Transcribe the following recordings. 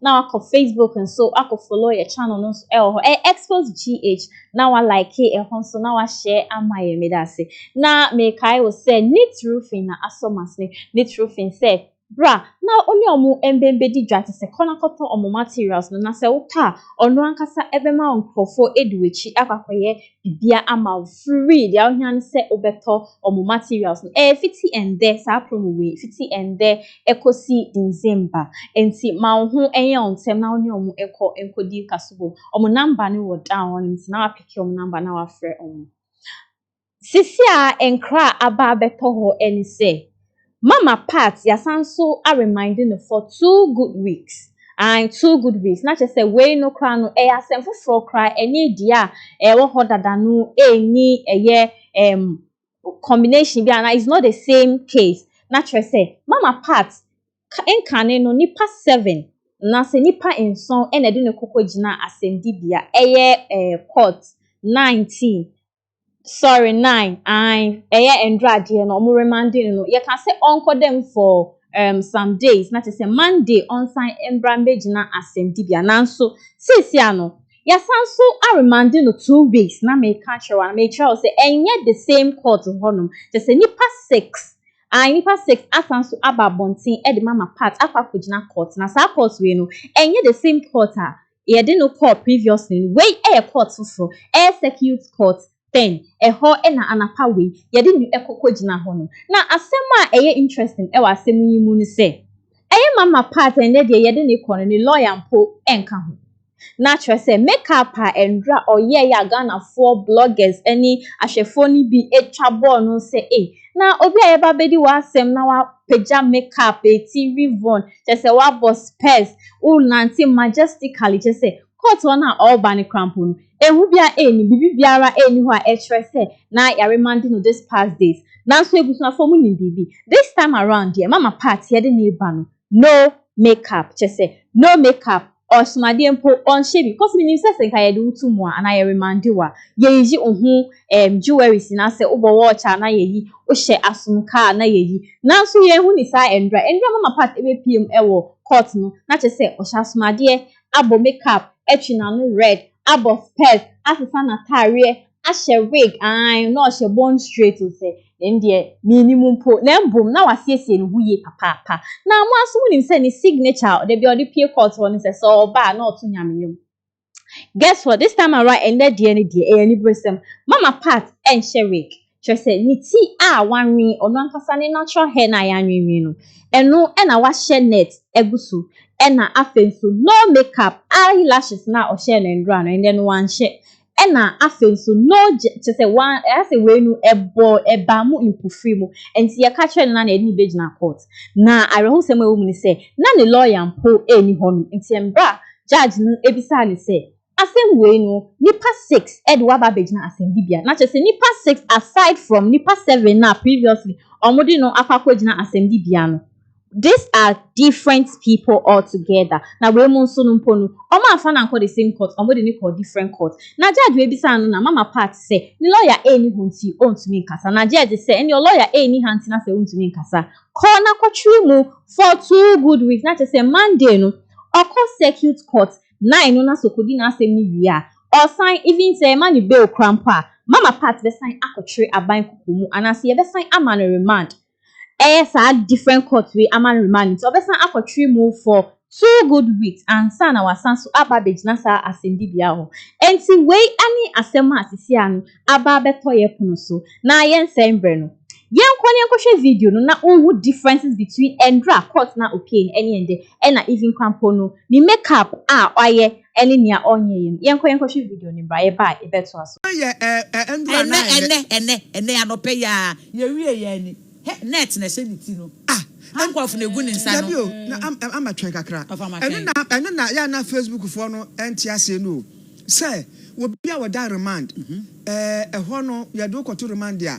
na wakɔ facebook nso akɔ follow yɛ channel no nso ɛwɔ hɔ ɛyɛ expos gh na wa like ɛho nso na wa share ama yɛ meda ase na mekae wɔ sɛ neat roofing na asɔ masene neat roofing sɛ bra na ɔne ɔmo mbɛmbɛdi dwa te sɛ kɔ na kɔtɔ ɔmo materials no na sɛ wotɔ a ɔno ankasa ɛbɛma nkorɔfoɔ edi w'akyi akɔ akɔyɛ bia ama wo free dea ohia ne sɛ wobɛtɔ ɔmo materials no ɛyɛ fiti ɛndɛ saa promo wei fiti ɛndɛ ɛkɔsi December ɛnti ma wo ho ɛnyɛ wo ntɛm na wo ne ɔmo nkɔ nkɔdi nkaso bom ɔmo number no wɔ down hɔ nom nti na wapeke ɔmo number na wafrɛ ɔmo sisi a nkra aba abɛtɔ hɔ ɛne sɛ Mama part yɛasan nso a remind no for two good weeks and two good weeks na kyerɛ sɛ wei no koraa no ɛyɛ asɛm foforɔ koraa ɛne deɛ a ɛwɔ hɔ dada no ɛnni ɛyɛ um, combination bi anaa it's not the same case na kyerɛ sɛ mama part nkane no nipa seven na sɛ nipa nson ɛna ɛde ne koko gyina asɛmdibea ɛyɛ eh, court nineteen sorry nine ae ɛyɛ ɛndrɔ adeɛ no ɔmo remande no no yɛka sɛ ɔnkɔ dɛm for um, some days na kyerɛ sɛ monday ɔnsan mbra mbɛgyina asɛmdibea nanso seesie a no yɛasan so aremande no two weeks na meka kyerɛ wa na mekyerɛ wo sɛ ɛnyɛ the same court hɔnom kyɛ sɛ nipa six ae nipa six asan so aba abɔnten ɛde mama part akɔ akɔgyina court na saa court wei no ɛnyɛ the same court a yɛde no kɔɔ previously no wei yɛ court foforɔ ɛyɛ circuit court then ɛhɔ na anapa wei yɛde no kɔ kɔ gyina hɔ no na asɛm a ɛyɛ interesting ɛwɔ asɛm yi mu no sɛ ɛyɛ mama part ɛnɛ deɛ yɛde no kɔ no ne lawyer mpo ɛnka ho na kyerɛ sɛ make up a ɛndra ɔyɛ yɛ a Ghanafoɔ bloggers ɛne ahwɛfoɔ no bi atwa bɔɔl no sɛ ei na obi a yɛba bɛdi wɔ asɛm na wapagya make up ɛti rivon Kyerɛ sɛ woabɔ spurs, worenante majestically, kyerɛ sɛ court hɔ no a ɔreba no koraa mpo no, ehu biara nnim, biribi biara nni hɔ a ɛkyerɛ sɛ na Yariman de no this past days. Nanso abusuafoɔ monim biribi? This time around deɛ, Mama Pat yɛde no reba no, no make up, kyerɛ sɛ no make up. ɔsom adeɛ mpo ɔnhyɛ bi cause menim sɛ sɛ nka yɛde wo to mu a anaa yɛ remande wo a yɛyiyi wo ho ɛɛm jewelries nyinaa sɛ wobɔ watch a na yɛyi wohyɛ asom ka a na yɛyi nanso yɛnhu ne saa ɛndura ɛndura mama part ɛbɛpue mu ɛwɔ court no na kyerɛ sɛ ɔhyɛ asom adeɛ abɔ makeup atwi n'ano red abɔ spɛs asesa n'ataareɛ ahyɛ wig, aane, na ɔhyɛ bond straight o sɛ, na ɛno deɛ mennim mpo, na mmom na wasiesie ne ho yie papaapa, na mo ara nso mo nim sɛ ne signature a da bi a ɔde pue court hɔ no sɛ sɛ ɔreba a na ɔto nyame nnwom. Guess what, this time around ɛnnɛ deɛ no deɛ ɛyɛ aniberesɛm, mama part ɛnhyɛ wig, kyerɛ sɛ ne ti a wanwen, ɔno ankasa ne natural hair no a yɛanwenwen no, ɛno na wahyɛ net agu so, ɛna afei nso no make up, eye lashes no a ɔhyɛɛ no nnora no ɛnnɛ no wanhyɛ, Ɛna afei nso no gye kyerɛ sɛ wa asɛ wei no ɛbɔ ɛbaa mu mpofiri mu ɛnti yɛka kyerɛ no na na yɛde no bɛgyina court na awerɛhosɛm a ɛwɔ mu ne sɛ na ne lawyer mpo ɛnni hɔ nom ɛnti ɛmberɛ a judge no ɛbisaa no sɛ asɛm wei no nipa six ɛde wo aba abɛgyina asɛmdibea na kyerɛ sɛ nipa six aside from nipa seven no a previously wɔn de no akɔ akɔgyina asɛmdibea no This are different people all together na wei mu nso no mpo no ɔmo anfa no ankɔ the same court ɔmo de no kɔɔ different court na judge wei bisaa no na mama part sɛ ne lawyer ɛɛni hɔ nti ɔntumi nkasa na judge sɛ ɛneɛ lawyer ɛɛni ha nti na sɛ wontumi nkasa kɔ na kɔ twere mu for two good weeks na kyerɛ sɛ Monday no ɔkɔ circuit court nine no na sɛ ɔkɔdi n'asɛm no wie a ɔsan even sɛ yɛma no bail kora mpo a mama part bɛsan akɔtwere aban koko mu anaasɛ yɛbɛsan ama no remand ɛyɛ saa different court wei ama remand nti ɔbɛsan akɔ tiri mu for two good weeks ansa na wasan so aba abɛgyina saa asɛnnibea hɔ. Enti wei ne asɛm a seesei ano aba abɛtɔ yɛn pono so. Na yɛnsɛe mberɛ no, yɛnkɔ na yɛnkɔhwɛ video no na wonhu differences between ɛnderɛ a court no a opiee no ɛne ɛndɛ ɛna even Kwampɔn no ne make up a wayɛ ɛne nea ɔnyɛ yɛ no. Yɛnkɔ yɛnkɔhwɛ video no bra yɛba a yɛbɛtoa so. Ɛnɛ yɛ ɛɛ ɛɛ nduru anan ɛnɛ. Ɛnɛ ɛnɛ ɛnɛ ɛnɛ anɔpɛ yi ara yɛ wie yɛn ni hɛ net na ɛhyɛ ne ti no ah handcuff na egu ne nsa no. Dabi o na am am ama twɛn kakra. Ɔfa ma twɛn. Ɛno na ɛno na yɛ a na facebook foɔ no ɛnte aseɛ no o sɛ obi a ɔda remand ɛɛ ɛhɔ no yɛde wo kɔto remand a.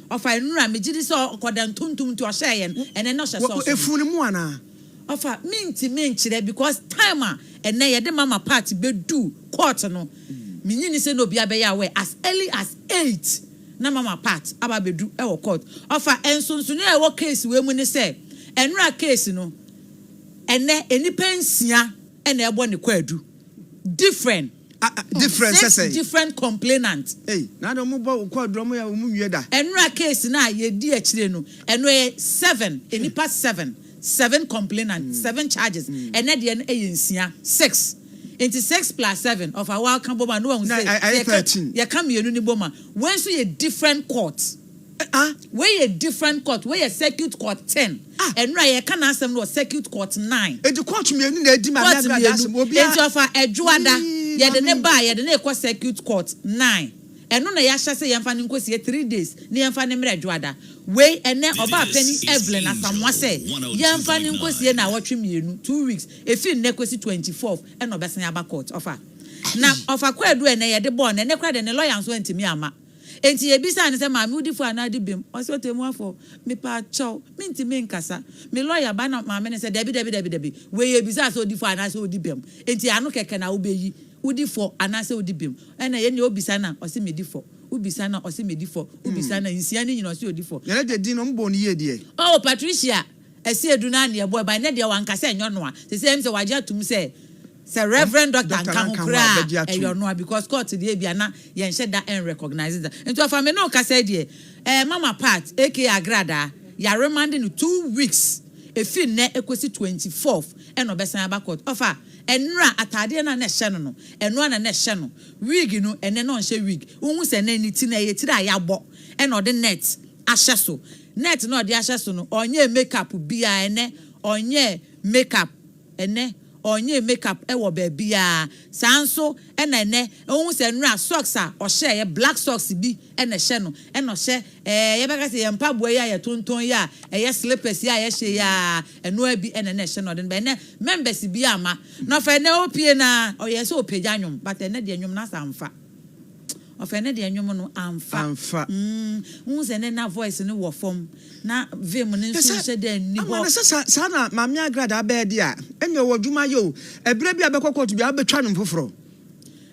Ɔfa nnura, megye di sɛ ɔkɔ da ntontom nti ɔhyɛɛ yɛn ɛnɛ na ɔhyɛ socks. Efunu no mu anaa? Ɔfa, Mintumi nkyerɛ because time a ɛnɛ yɛde ma ma part bedu court no, minnye nni sɛ na obiara bɛyɛ aware as early as eight na ma ma part aba abedu wɔ court. Ɔfa, Nsonsonoe a ɛwɔ case wei mu ne sɛ nnura case no ɛnɛ nnipa nsia na ɛbɔ ne kwaadu, different. Ah ah different sɛ sɛn. Six different complainant. Ei na adɛn ɔmo bɔ wo kɔ aduro ɔmo yɛ ɔmo nwie da. Ɛnora case no a yɛdi akyire no ɛno ɛyɛ seven nnipa seven seven complainant seven charges ɛnɛ deɛ no ɛyɛ nsia six nti six plus seven ɔfa wo ara ka bom a na wahu sɛ yɛka mmienu no bom a wei nso yɛ different court. Ah wei yɛ different court wei yɛ circuit court ten ah ɛnora yɛ ka n'asɛm no wɔ circuit court nine. Eti court mmienu na edi maame agradaa asɛm wɔ obiara. Eti ɔfa ɛdwoada yɛ de ne ba a yɛ de ne kɔ circuit court nine ɛno na y'ahyɛ sɛ yɛn fa no nko sie three days ne yɛn fa ne mmerɛ ɛdwoada wei ɛnɛ ɔbaa pɛni Evelyn Asamoah sɛ yɛn fa ne nko sie naawɔtwe mmienu two weeks efi nnɛ kosi twenty fourth ɛna ɔbɛsan aba court ɔfa na ɔfa kwaadu ɛnɛ yɛ de bɔɔ no ɛnɛ kora deɛ ne lɔya nso antumi ama. Enti yebisaa no sɛ, Maame, wudi fɔ anaa di bem? Ɔse, Ɔtɛmmuafo, mepaakyɛw, mintumi nkasa. Me lɔya ba na maame no sɛ, Dabi, dabi, dabi, dabi. Wei yebisaa sɛ odi fɔ anaasɛ odi bem. Enti ano kɛkɛ na wubeyi, wodi fɔ anaasɛ wodi bem. Ɛna yɛn deɛ obisa no a, ɔse medi fɔ. Wobisa no a, ɔse medi fɔ. Wobisa no a, nsia no nyinaa ɔse odi fɔ. Yɛn agya din no, wɔbɔɔ no yie deɛ? Oh, Patricia! Ɛsɛ edu na nea ɛbɔ ɛban na deɛ wanka sɛ ɛnyɛ ɔnoa sesei ɛm sɛ wagye atum sɛ sɛ reverend doctor nka ho koraa a ɛyɛ ɔnoa because court deɛ ebia na yɛn hyɛ da ɛn recognise da nti ɔfa me ne wo kasa yi deɛ ɛɛ mama part aka agradaa ya remande no two weeks efiri nnɛ ɛkɔsi twenty fourth ɛna ɔbɛsan aba court ɔfa ɛnora ataadeɛ no a na ɛhyɛ no no ɛno ara na na ɛhyɛ no wig no ɛnɛ na ɔnhyɛ wig wohu sɛ ɛnɛ ne ti no ɛyɛ tiri a yɛabɔ ɛna ɔde net ahyɛ so. Net na ɔde ahyɛ so no ɔnyɛɛ makeup biaa ɛnɛ ɔnyɛɛ makeup ɛnɛ ɔnyɛɛ makeup wɔ baabiaa saa nso na ɛnɛ wohu sɛ nnora socks a ɔhyɛ ɛyɛ black socks bi na ɛhyɛ no na ɔhyɛ ɛɛ yɛbɛka sɛ yɛn mpaboa yi a yɛtontɔn yi a ɛyɛ slippers yi a yɛhyɛ yi a ɛnoaa bi na ɛnɛ ɛhyɛ no ɔde no ba ɛnɛ members biaa mma na ɔfa ɛnɛ opie no aa ɔyɛɛ sɛ ɔpagya nwom but ɛnɛ deɛ nwom no asa mfa Ɔfɛ ne deɛ nwom no amfa. Amfa. Mm, wohu sɛ ne na voice no wɔ fam na vim no nso nhyɛ dɛ nni hɔ. Ama no sɛ sa, saa na Maame Agradaa bɛyɛ deɛ a, ɛnneɛ ɔwɔ adwuma ayɛ o. Ɛberɛ bi a bɛkɔ court biara wobɛtwa nwom foforɔ.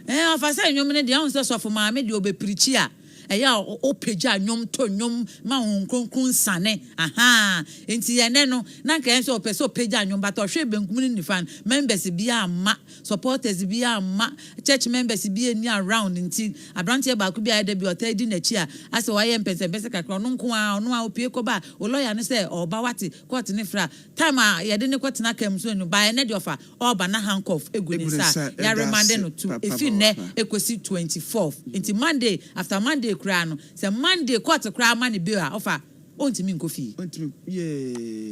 Ɛɛ, ɔfa sɛ nwom no deɛ, wohu sɛ Sɔfo Maame deɛ ɔbɛpirikyi a, ɛyɛ a ɔpagya nwom to nwom ma Honhom Kronkron nsiane. Ahaa, enti ɛnnɛ no, na nka ɛyɛ sɛ ɔpɛ sɛ ɔpagya nwom, but ɔhwee benkum ne nifa no, members biara amma supporters bi amma church members bi anni around nti, abranteɛ baako bi a ɛda bi a ɔtaa di n'akyi a asɛ wayɛ mpɛnsɛmpɛsɛ kakra, ɔno nko ara, ɔno ara ɔpue kɔba o lawyer no sɛ ɔɔba wate, court no fra, time a yɛde no kɔtena car mu nso annu, by ɛnnɛ deɛ ɔfa ɔɔba na handcuff gu ne nsa a yɛaremande no to ɛfiri nnɛ kɔsi twenty fourth, nti Monday, after Monday koraa no, sɛ Monday court koraa ma no bail a ɔfa. Ɔntumi nkɔ fie. Ɔntumi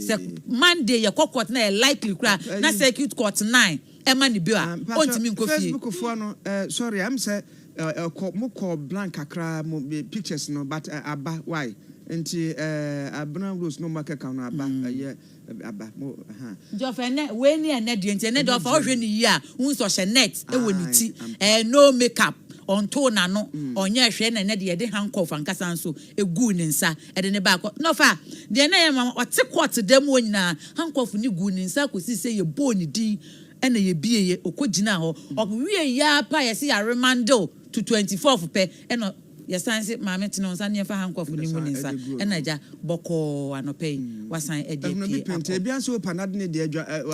Sɛ yee. Monday yɛkɔ court na ɛyɛ likely koraa Ah, na ayi. circuit court nine ɛma no bail a, Ah, mpakyɛ ɔntumi nkɔ fie. Facebook foɔ no eh, sorry ɛm sɛ eh, ɛkɔ mo kɔ blank kakra mo be pictures no but eh, aba why nti eh, Abena Rose no mo akeka no aba ɛyɛ. Nti ɔfa ɛnɛ wei ne ɛnɛ deɛ nti ɛnɛ deɛ ɔfa ɔhwɛ ne yie a wohu sɛ ɔhyɛ net wɔ ne ti ɛɛ no make up ɔntoo n'ano ɔnyɛ hwɛ na ɛnɛ deɛ yɛde handcuff ankasa nso eguu ne nsa ɛde ne baa kɔ na ɔfa deɛ ɛnɛ yɛ ma ɔte court dan mu hɔ nyinaa handcuff ne guu ne nsa akɔsi sɛ yɛbɔɔ ne din ɛna yɛbieeɛ ɔkɔgyinaa hɔ ɔwieeɛ ara pɛ a yɛse yɛaremande wo to twenty fourth pɛ ɛna Yɛsan se, Maame, tene wo nsa ne fa ha nkurɔfo no mu ne nsa. Ɛnna agya, bɔkɔɔ, anɔpa yi, wasan adi apue akɔ.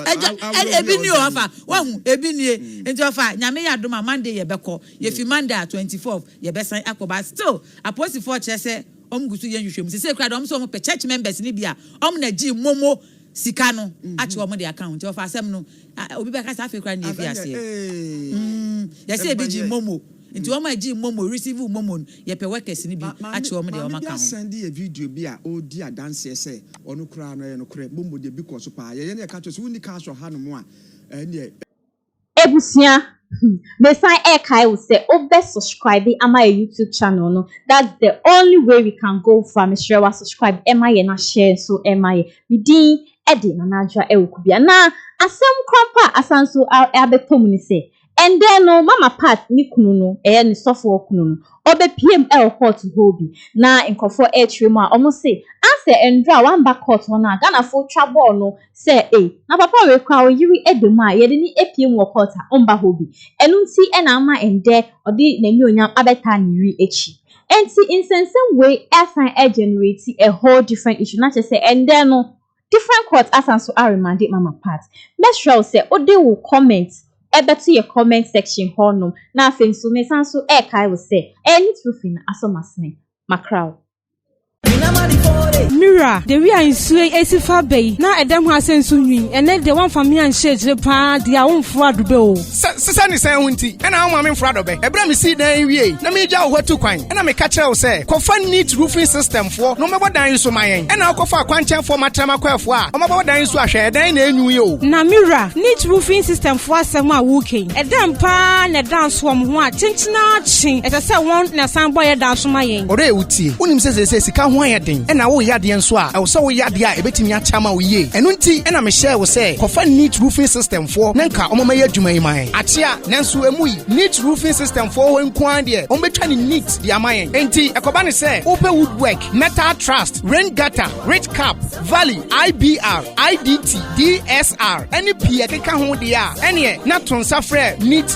Agya, ɛnde ebi nie o, afa, wahu, ebi nie. Nti ɔfa, Nyame yɛ adom a, Monday yɛbɛkɔ. Yɛfi Monday a, twenty fourth, yɛbɛsan akɔ. But still, apolisifɔɔ kyerɛ sɛ wɔn gu so yɛ nhwehwɛmu. Sesei koraa deɛ, wɔn se wɔn pɛ church members no bi a wɔn na gyee momo sika no akye wɔn de aka ho. Nti ɔfa, asɛm no, obi bɛka sɛ afei koraa na yɛfii aseɛ. Yɛse yɛde gyee momo. Nti wɔn a gyee momo, received momo no, yɛpɛ workers no bi akyerɛ wɔn deɛ wɔn aka ho. Maame bi asan de yɛ video bi a ɔredi adanseɛ sɛ ɔno koraa no ɛyɛ nokorɛ, momo deɛ bi kɔɔ so paa. Yɛyɛ na yɛka kyerɛ wo sɛ wonni cars wɔ ha nom a, ɛnneɛ. Abusua hmm mesan ɛkae wo sɛ wo bɛ subscribe ama yɛ YouTube channel no that's the only way we can go far mesrɛ wa subscribe ɛma yɛ na share nso ɛma yɛ me din ɛde Nana Adwoa ɛwɔ Kubia na asɛm korampo a asan nso abɛtɔ mu ne sɛ Ndɛ no Mama Pat ne kunu no, ɛyɛ ne sɔfoɔ kunu no, ɔbɛpiam ɛwɔ court hɔ bi na nkorɔfoɔ ɛɛkyerɛ mu a ɔmo se ansɛ ndrɔ a wamba court hɔ no a Ghanafoɔ twa bɔɔl no sɛ ei na papa wei koraa ɔyere da mu a yɛde no apue mu wɔ court a ɔmba hɔ bi ɛno nti na ama ndɛ ɔde n'anyuonyam abɛtaa ne yere akyi ɛnti nsɛnsɛm wei asan ɛɛgenerate a whole different issue na kyerɛ sɛ ndɛ no Different court asan so aremande mama part. Mɛsrɛ wo sɛ wode wo comment bɛto yɛ comment section hɔ nom na afei nso mesan so rekae wo sɛ ɛyɛ ne tiri fi no asɔ m'asene. Makra wo. Mira, de wi a nsuo yi asi fa aba yi, na ɛdɛm ho asɛm nso nwi. Ɛnnɛ deɛ woamfa me anhyɛ akyire paa deɛ a womforo adobɛ o. Sɛ sesɛ ne sɛn ho nti na wo maame mfra dɔbɛ? Ɛberɛ a mesii dan yi wiei na meregya wo hɔ atu kwan na meka kyerɛɛ wo sɛ, 'Kɔfa Neat Roofing System foɔ na wɔmmɛbɔ dan yi so ma yɛn' na wokɔfaa kwankyɛnfoɔ Matrɛma Kwaafoɔ a wɔabɛbɔ dan yi so ahwɛ ɛdan yi na ɛnwu yi o. Na me wura, Neat Roofing System foɔ asɛm a woreka yi, ɛdɛn pa ara na ɛda nso wɔn ho a kyenkyen ara kye ɛsɛ sɛ wɔn na ɛsan bɔ yɛn dan so ma yɛn? Ɔdɔ yɛ wo tie. Wonim sɛ seesei sika ho ayɛ den na woreyɛ adeɛ nso a ɛwɔ sɛ woyɛ adeɛ a ɛbɛtumi akyɛ ama wo yie. Ɛno nti na mehyɛɛ wo sɛ kɔfa Neat Roofing System foɔ na nka wɔn mɛyɛ adwuma yi man akyea nanso emu yi neat roofing system foɔ hɔ nko ara deɛ wɔn bɛtwa ne neat de ama yɛn nti ɛkɔba ne sɛ wopɛ woodwork metal trust rain gutter rich cap valley ibr idt dsr ɛne pii ɛkeka ho deɛ a ɛneɛ na to nsa frɛ neat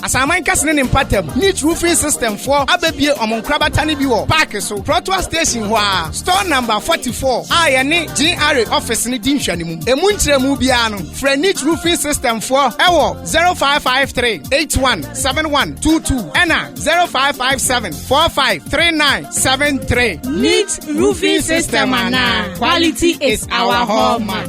Asaman kɛse ne ne mpatam, Niche Roofing System foɔ abɛbie wɔn nkorabata no bi wɔ paake so, Protoa Station hɔ ara, Store Number 44 a yɛne GRA office no di nhwɛanimu. Ɛmu nkyerɛmu biara no, frɛ Niche Roofing System foɔ wɔ 0553 81 7122 ɛna 0557 45 3973. Niche Roofing System anaa Quality is our hallmark.